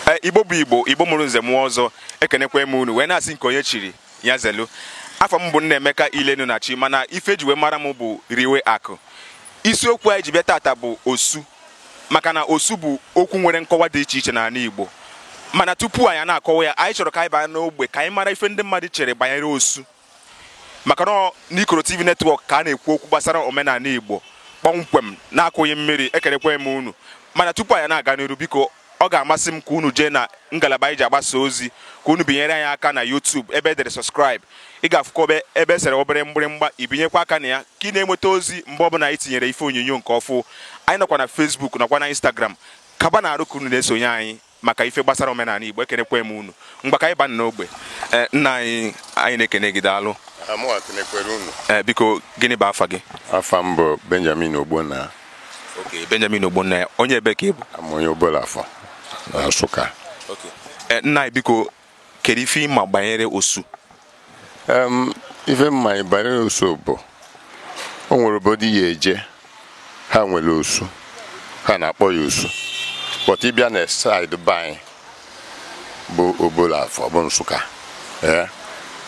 Eh, igbo bụ igbo igbo mụrụ nze mụọ ọzọ ekenekwe m unu wee na-asị nke onye chiri ya zelu afa m bụ Nnaemeka ilenu na chi mana ife e ji wee mara m bụ riwe akụ isiokwu anyị ji bịa tata bụ osu maka na osu bụ okwu nwere nkọwa dị iche iche n'anị igbo mana tupu anyị na-akọwa ya anyị chọrọ ka anyị baa n'ogbe ka anyị mara ife ndị mmadụ chere banyere osu maka na n'ikoro tv netwọk ka a na-ekwu okwu gbasara omenanị igbo kpọmkwem na-akụghị mmiri ekenekwe m unu mana tupu anyị na-aga n'iru biko ọ ga-amasị m ka unu jee na ngalaba anyị ji agbasa ozi ka unu binyere anyị aka na YouTube ebe e dere subscribe ị ga-afụkwa ebe ebe e sere obere mgbịrịmgba i binyekwa aka na ya ka ị na-enweta ozi mgbe ọbụla anyị tinyere ife onyonyo nke ọfụ anyị nọkwa na Facebook nọkwa na Instagram kaba na arụ ka unu na-esonye anyị maka ife gbasara omenanị Igbo ekenekwe m unu ngwa ka anyị baa n'ogbe eh, nna anyị anyị na-ekene gị daalụ eh, biko gịnị bụ afa gị afa m bụ Benjamin Ogbonna okay Benjamin Ogbonna onye ebe ka ị bụ onye Obolo Afọ na Nsụka eh, nna anyị biko Kedu ife ị ma banyere osu? Um, ife m ma banyere osu bụ o nwere obodo ị ya-eje ha nwere osu ha na-akpọ ya osu but ị bịa na side be anyị bụ obolo afọ bụ nsụka ee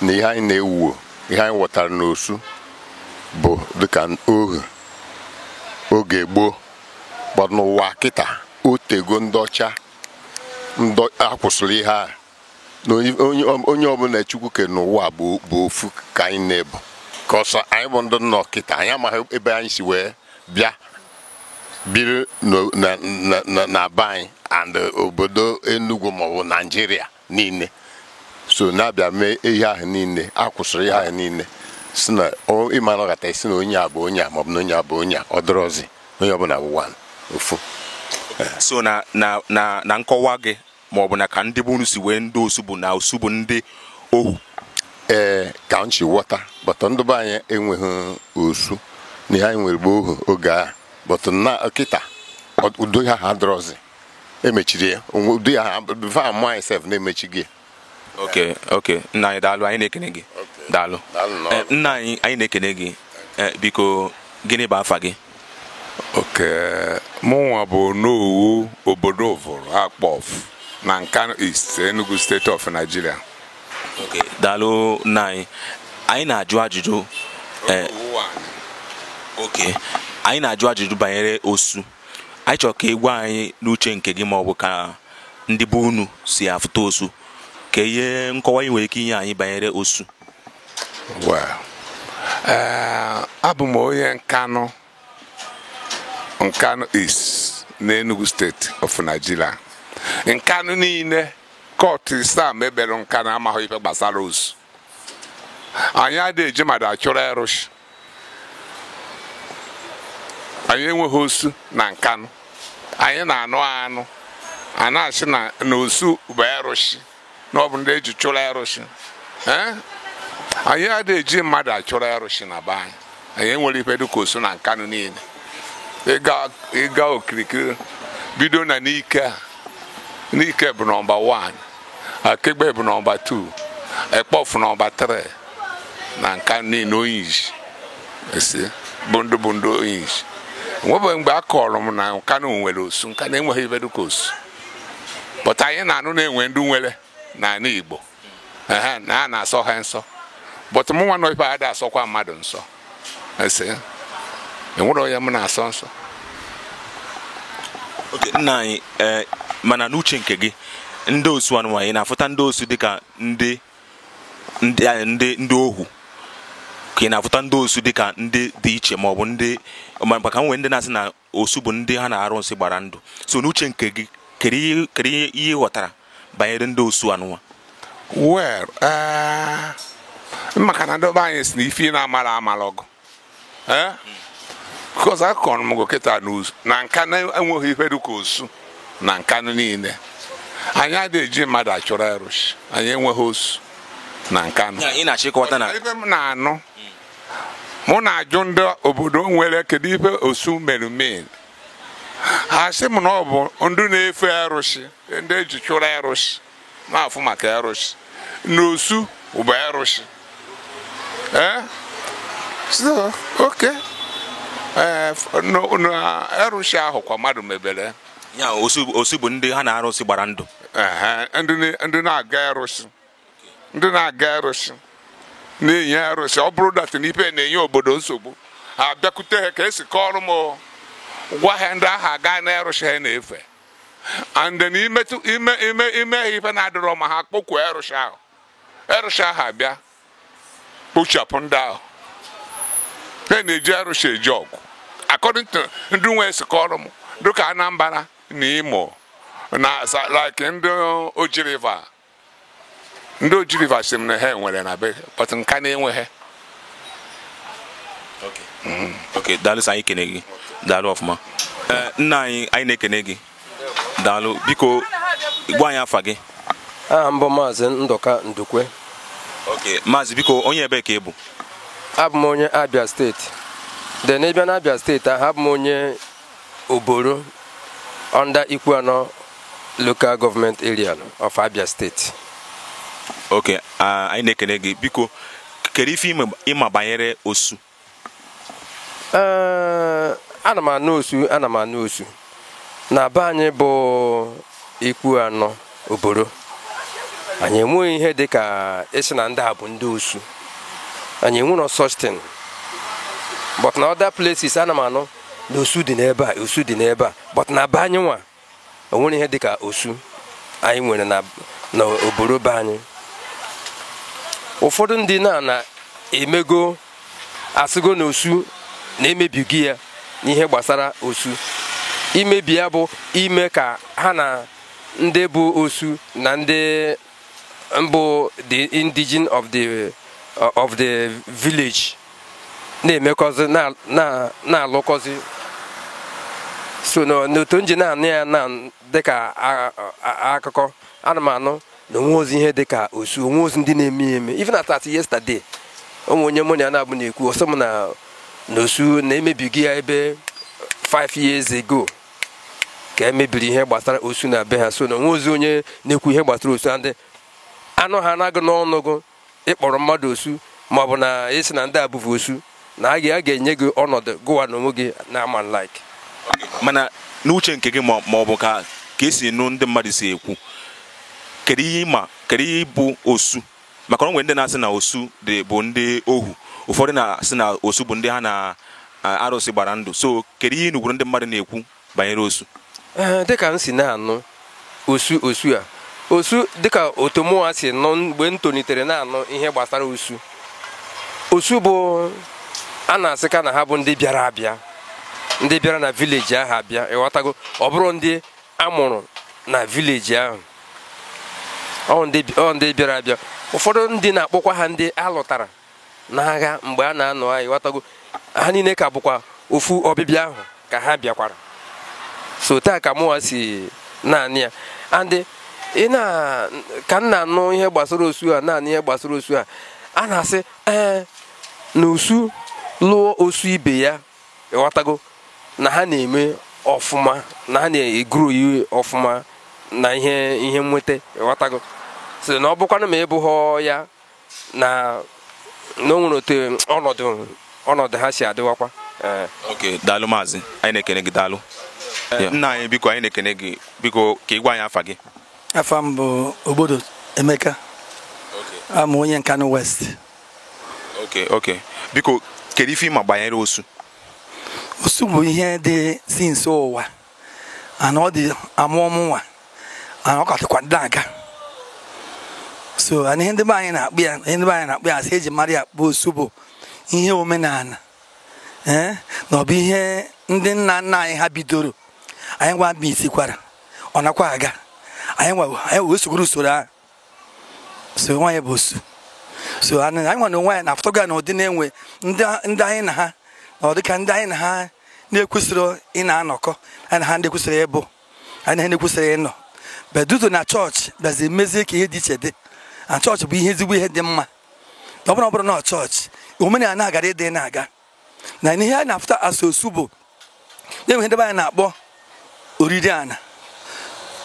na ihe anyị na-ewuwo ihe anyị ghọtara na osu bụ dịka ohu oge gboo but n'ụwa kịta otego ndị ọcha ndị a kwụsịrị ihe a na onye- onye onye ọbụla chukwu ke n'ụwa bụ bụ ofu ka anyị niile bụ cause anyị bụ ndị nọ kịta anyị amaghị ebe anyị si wee bịa biri n'o- na- na- na- na be anyị and obodo Enugu maọbụ Nigeria niile so na a bịa mee ihe ahụ niile a kwụsịrị ihe ahụ niile sị na ịma na ịghọta sị na onye a bụ onye a maọbụ na onye a bụ onye a ọ dịrọzi onye ọbụla bụ one ofu so na na na na nkọwa gị maọbụ na ka ndị be unu si wee ndị osu bụ na osu bụ ndị ohu ee ka m si ghọta but ndị be anyị enweghị osu na ihe anyị nwere bụ ohu oge ahụ but na kịta ụdị ahụ adịrọzi e mechiri ya onwe- ụdị ihe ahụ before a mụọ anyị sef na e mechiri ya okay okay nna anyị daalụ anyị na-ekene gị daalụ Daalụ nnọọ. Eh, nna anyị anyị na-ekene gị Eh, biko gịnị bụ afa gị okay mụnwa bụ onowu obodo ụvụrụ akpọfụ na nkanu east enugu state of nigeria okay daalụ nna anyị anyị na-ajụ ajụjụ eh, okay anyị na-ajụ ajụjụ banyere osu anyị chọrọ ka ị gwa anyị n'uche nke gị ma ọ bụ ka ndị be unu si afụta osu ka ihe nkọwa ị nwere ike inye anyị banyere osu Well, eh, abụ m onye Nkanụ Nkanụ East n'Enugu steeti of Nigeria Nkanụ niile kọtụ Islam ebere Nkanụ amaghị ife gbasara osu anyị adịghị eji mmadụ achụrụ erụshi anyị enweghị osu na nkanụ anyị na-anụ anụ a na-asị na na osu bụ erụshi na ọ bụ ndị eji chụrụ erụshi ee anyị adịghị eji mmadụ achụrụ erụshi na be anyị anyị enwerọ ife dịka osu na nkanụ niile ịga ịga okirikiri bido na Nike a Nike bụ nọmba 1 Akegbe bụ nọmba 2 Ekpofu nọmba 3 na Nkanụ niile onyishi esi bụ ndị bụ ndị onyishi nwebeghị mgbe a kọrọ m na Nkanụ nwere osu Nkanụ enweghị ife dịka osu but anyị na-anụ na e nwe ndị nwere n'ala Igbo ehe na a na-asọ ha nsọ but mụnwa nọ ibe a ada asọkwa mmadụ nsọ ese enwerọ onye m na-asọ nsọ okay nna anyị eh, mana n'uche nke gị ndị osu anụnwa ị na-afụta ndị osu dịka ndị ndị eh, ndị ndị ohu ka ị na-afụta ndị osu dịka ndị dị iche ma ọ bụ ndị maka e nwere ndị na-asị na osu bụ ndị ha na arụsị gbara ndụ so n'uche nke gị kedu ihe kedu ihe ihe ị ghọtara banyere ndị osu anụnwa well eh, maka na ndị be anyị sị na ife ị na-amala amala ọgụ Eh? because akọgo m gụ kịta n'osu na Nkanụ enweghị ife dịka osu na Nkanụ niile anyị adịghị eji mmadụ achụrụ erụshi anyị enweghị osu na nkanụ Ya, ị na-achọ ịkọwata na ife m na-anụ mụ na-ajụ ndị obodo nwere kedu ife osu mere mean ha sị m na ọ bụ ndị na-efe erụshi ndị eji chụrụ erụshi na-afụ maka erụshi na osu bụ erụshi ee so okay ee na erụshi ahụ kwa mmadụ mebere ya osu osu bụ ndị ha na arụsị gbara ndụ ehe, ndị na- ndị na-aga erụshi ndị na-aga arụsị na-enye arụsị ọ bụrụ that na ife na-enye obodo nsogbu ha bịakwute ha ka esi kọọrọ m o. gwa ha ndị ahụ aga na arụsị ha na-efe and then i metụ ime ime i mee ha ife na-adịrọ mma ha kpọkwuo arụsị ahụ arụsị ahụ abịa kpochapụ ndị ahụ ha na-eji arụsị eje ọgụ according to ndị nwe si kọọrọ m dịka anambra na imo na sa- like ndị Oji River ndị oji river sị m na ha nwere na be but nkanu enweghị ok daalụ sị anyị kene gị daalụ ọfụma eh, nna anyị anyị na-ekene gị daalụ biko gwa anyị afa gị aha m bụ maazị ndụka ndukwe ok maazị biko onye ebe ka ị bụ abụ m onye abia steeti then ị bịa na abia steeti ahụ abụ m onye Oboro under Ikwuano local government area of Abia State. Okay, uh, anyị na-ekene gị biko kedu ife ị ma banyere osu uh, ana m anụ osu ana m anụ osu na be anyị bụ Ikwuano Oboro anyị enweghị ihe dị ka ịsị na ndị a bụ ndị osu anyị enwero such thing but na other places ana m anụ na osu dị n'ebe a osu dị n'ebe a but na be anyị nwa o nwero ihe dịka osu anyị nwere na na oboro be anyị ụfọdụ ndị na na emego asịgo na osu na e mebigo ya n'ihe gbasara osu imebi ya bụ ime ka ha na ndị bụ osu na ndị mbụ the indigene of the uh, of the village na-emekọzi na- na- na-alụkọzi so na- n'otu m ji na-anụ ya na dịka a- a- akụkọ ana m anụ na o nwerozi ihe dịka osu o nwerozi ndị na-eme ya eme even as at yesterday o nwe onye mụ na ya nọbu na-ekwu ọ sị m na na osu na e mebigo ya ebe 5 years ago ka e mebiri ihe gbasara osu na be ha so na o nwerozi onye na-ekwu ihe gbasara osu and a nụ ha na gị n'ọnụ gụ ị kpọrọ mmadụ osu ma ọ bụ na ị sị na ndị a bụvu osu na a ga-enye gị ọnọdụ gụwa na onwe gị na-ama like mana n'uche nke gị ma ọ bụ ka ka ị si nụ ndị mmadụ si ekwu kedu ihe ị ma kedu ihe bụ osu maka na o nwere ndị na-asị na osu dị bụ ndị ohu ụfọdụ na-asị na osu bụ ndị ha na a- arụsị gbara ndụ so kedu ihe ị nụgoro ndị mmadụ na-ekwu banyere osu Ee, dịka m si na-anụ osu osu a osu dịka otu mụnwa si nụ mgbe m tolitere na-anụ ihe gbasara osu osu bụ a na-asị ka na ha bụ ndị bịara abịa ndị bịara na village ahụ abịa ị ghọtago ọ bụrọ ndị a mụrụ na village ahụ ọ ndị bịara abịa ụfọdụ ndị na-akpọkwa ha ndị a lụtara n'agha mgbe a na-anụ aya ị ghọtago ha niile ka bụkwa ofu ọbịbịa ahụ ka ha bịakwara so otu a ka mụwa si na-anụ ya and na ka m na-anụ ihe gbasara osu a na-anụ ihe gbasara osu a a na-asị ee na osu lụọ osu ibe ya ịghọtago na ha na-eme ọfụma na ha na-eguru yi ọfụma na ihe ihe nweta ịghọtago so na ọ bụkwanụ ma ịbụghọ ya na na o nwere otu ọnọdụ ọnọdụ ha si adịwakwa eh. ok daalụ maazị anyị na-ekene gị daalụ eh, nna anyị biko anyị na-ekene gị biko ka ị gwa anyị afa gị afa m bụ ogbodo emeka abụ m onye nkanụ west okay okay biko kedu ife ị ma gbanyere osu osu bụ ihe dị since ụwa and ọ dị a mụọ mụ nwa and ọ ka dịkwa na-aga so and ihe ndị be anyị na-akpọ ya ihe ndị be anyị na-akpọ ya asị eji mara ya bụ osu bụ ihe omenala ee eh, na ọ bụ ihe ndị nna nna anyị ha bidoro anyị nwa bịa isikwara ọ nakwa aga anyị wee sogoro usoro ahụ so nwaanyị bụ osu so anyị nwa na onwe anyị na-afụtago ya na ụdị na e nwee ndị anyị na ha na ọ dịka ndị anyị na ha na-ekwesịrị ị na-anọkọ anyị na ha ndị kwesịrị ịbụ anyị na ha na-ekwesịrị ịnọ but due to na chọọchị bịazi mezie ka ihe dị iche dị and chọọchị bụ ihe ezigbo ihe dị mma ọ bụ na ọ bụrọ na chọọchị omenala gaara ịdị na-aga na ihe a na-afụta asị osu bụ e nwe ihe ndị be anyị na-akpọ oriri ana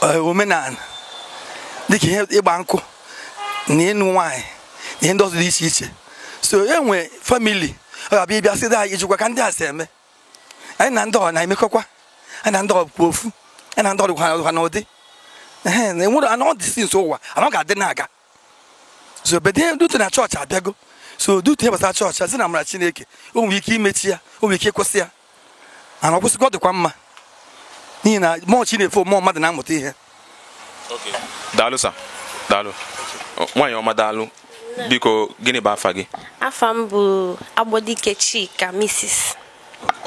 eh, omenala dịka ihe ịgba nkụ na ịnụ nwaanyị na ihe ndị ọzọ dị iche iche so e nwee famili ọ ga-abịa ịbịa sị anyị ijikwa ka ndị a si eme anyị na ndị ọ na-emekọkwa anyị na ndị ọ bụ ofu anyị na ndị ọ dịkwa n'ụdị e nwere and ọ dị since ụwa and ọ ga-adị na-aga so but due to na chọọchị abịago so due to ihe gbasara chọọchị as in amara chineke o nwere ike imechi ya o nwere ike ịkwụsị ya and ọ kwụsịgo ọ dịkwa mma n'ihi na more chi na-efo more mmadụ na-amụta ihe daalụ sa daalụ nwaanyị ọma daalụ biko gịnị bụ afa gị afa m bụ agbodike chika misis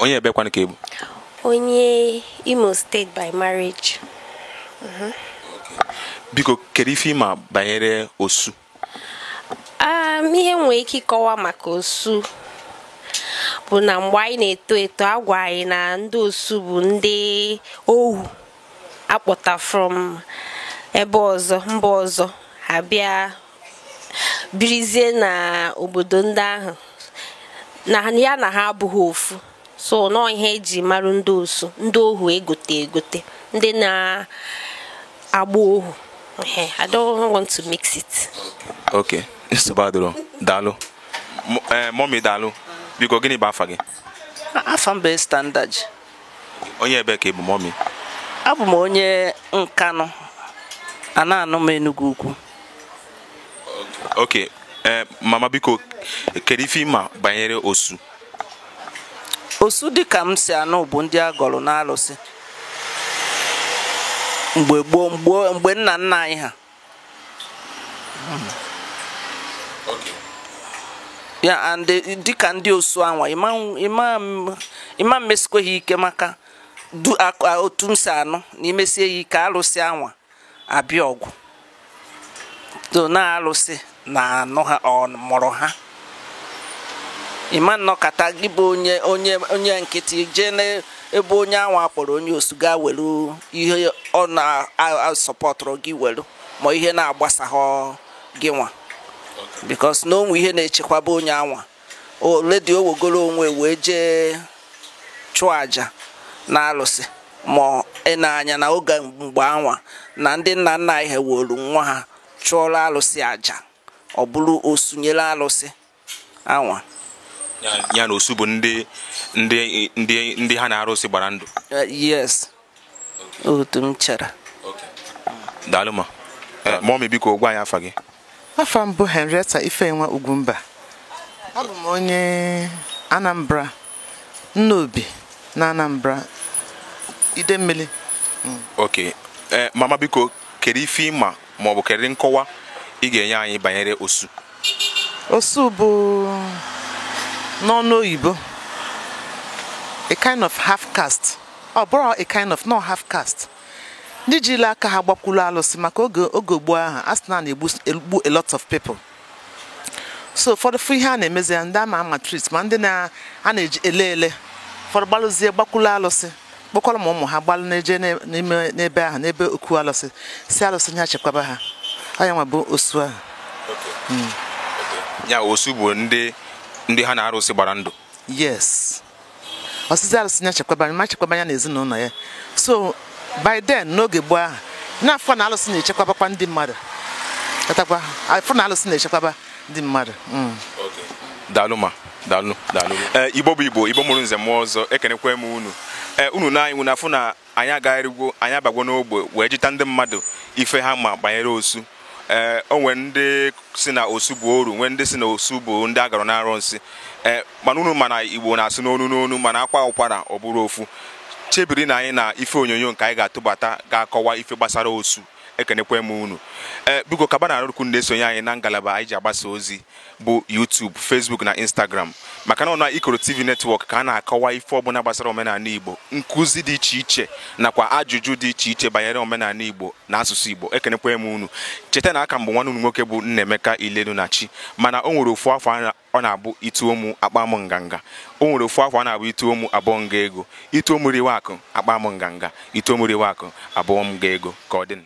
onye ebekwanụ ka ị bụ onye imo state by marriage mhm. biko kedu ife ị ma banyere osu um, ihe m nwee ike ịkọwa maka osu bụ na mgbe anyị na-eto eto agwa anyị na ndị osu bụ ndị ohu akpọta from ebe ọzọ mba ọzọ ha bịa birizie na obodo ndị ahụ na ya na ha abụghị ofu so na ọ ihe eji marụ ndị osu ndị ohu egote egote ndị na-agba ohu I don't want to mix it. Okay, nsogbu adịrọ daalụ mọmi eh, daalụ biko gịnị bụ afa gị afa m bụ standard onye ebe ka ị bụ mommy abụ m onye nkanụ a na-anụ m enugwu ukwu okay eh, mama biko kedu ife ị ma banyere osu osu dịka m si anụ bụ ndị a gọrọ n'alụsị mgbe gboo mgbe nna nna anyị ha ya and dịka ndị osu anwa ị ma mmesikwa ha ike maka otu m si anụ na i mesie ya ike alụsị anwa abịa ọgụ so na alụsị na anụ ha ọ mụrụ ha ị ma nnọkata gị bụ onye onye onye nkịtị jee n'ebe onye anwa kpọrọ onye osu ga welu ihe ọ na-asọpọtụrụ gị welu ma ihe na-agbasaghọ gị nwa because na o nwe ihe na-echekwaba onye anwa already o wegoro onwe wee jee chụọ aja na alụsị ma ị na-anya na oge mgbe anwa na ndị nna nna anyị ha welu nwa ha chụọrọ alụsị aja ọ bụrụ osu nyere alụsị anwa ya na osu bụ ndị ndị ndị ndị ha na arụsị gbara ndụ eh, yes otu m chere daalụ ma eh, mommy biko gwa anyị afa gị afa m bụ Henrietta Ifeyinwa Ugwumba abụ m onye Anambra Nnobi na Anambra Idemmili. Ok, ee mama biko kedu ife ị ma maọbụ kedu nkọwa ị ga-enye anyị banyere osu? Osu bụ n'ọnụ oyibo a kind of half caste ọ bụrụ a kind of no half caste ndị jiri aka ha gbakwuru alụsị maka oge oge gboo ahụ a sị na a na-egbu a lot of people so ụfọdụ fụ ihe a na-emezi ya ndị a na-amaltreat ma ndị na- a na-eji ele ele ụfọdụ gbalụzie gbakwulu alụsị kpọkọrọ ma ụmụ ha gbalụ na-eje na- n'ime n'ebe ahụ n'ebe okwu alụsị sị alụsị nya chekwaba ha ọ nya nwa bụ osu ahụ ya osu bụ ndị ndị ha na arụsị gbara ndụ yes ọ sịzị arụsị ya chekwaba ma chekwaba ya na ezinụlọ ya so by then n'oge gboo ahụ na-afụ na alụsị na-echekwabakwa ndị mmadụ katakwa afụ na alụsị na-echekwaba ndị mmadụ mm. daalụ ma daalụ daalụ eh, igbo bụ igbo igbo mụrụ nze mụọ ọzọ ekenekwa m unu eh, unu na anyị unu na-afụ na Anyị agagharịgwo, anyị abagwo n'ogbe wee jụta ndị mmadụ ife ha ma banyere Osu. Ee, o nwere ndị si na Osu bụ oru, nwee ndị si na Osu bụ ndị a gọrọ n'arụnsị. Ee, mana unu ma na Igbo na-asụ n'onu n'onu mana a kwaa ụkwara ọ bụrụ ofu. Chebiri nụ anyị na ife onyonyo nke anyị ga-atụbata ga-akọwa ife gbasara Osu. ekenekwa m unu ee eh, biko kaba na arụrụkwu na-esonye anyị na ngalaba anyị ji agbasa ozi bụ YouTube Facebook na Instagram maka na ọ na Ikoro TV netwọk ka a na-akọwa ife ọbụna gbasara omenanị Igbo nkụzi dị iche iche nakwa ajụjụ dị iche iche banyere omenanị Igbo na asụsụ Igbo ekenekwa m unu cheta na aka m bụ nwanne unu nwoke bụ Nnaemeka Ilenunachi mana o nwere ofu afa ọ na-abụ ituo mụ akpaa mụ nganga o nwere ofu afa ọ na-abụ ituo mụ abụọ m ga ego ituo mụ riwe akụ akpaa mụ nganga ituo mụ riwe akụ abụọ m ga ego ka ọ dịnụ